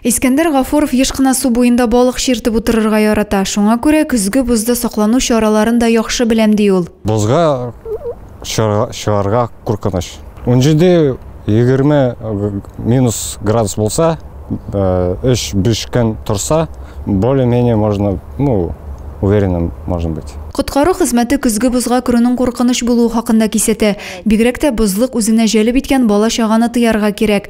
Искәндәр Гафуров еш кына су буенда балык чиртеп утырырга ярата. Шуңа күрә көзге бозда саклану чараларын да яхшы беләм, ди ул. Бозга чыгарга куркыныч. Унҗиде, егерме минус градус булса, өч-биш көн торса, более-менее можно, ну, уверенным можно быть. Коткару хезмәте көзге бозга керүнең куркыныч булуы хакында кисәтә. Бигрәк тә бозлык үзенә җәлеп иткән бала-чаганы тыярга кирәк.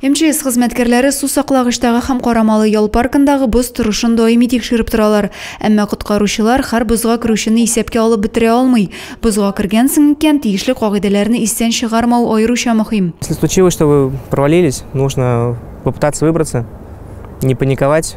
МЧС хезмәткәрләре сусаклагычтагы һәм Карамалы ял паркындагы боз торышын даими тикшереп торалар. Әмма коткаручылар һәр бозга керүчене исәпкә алып бетерә алмый. Бозга кергәнсең икән, тиешле кагыйдәләрне истән чыгармау аеруча мөһим. Если случилось, что вы провалились, нужно попытаться выбраться, не паниковать.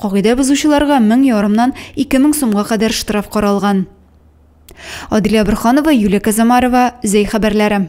Кагыйдә бозучыларга мең ярымнан ике мең сумга кадәр штраф каралган. Аделя Борханова, Юлия Казамарова, Зәй хәбәрләре.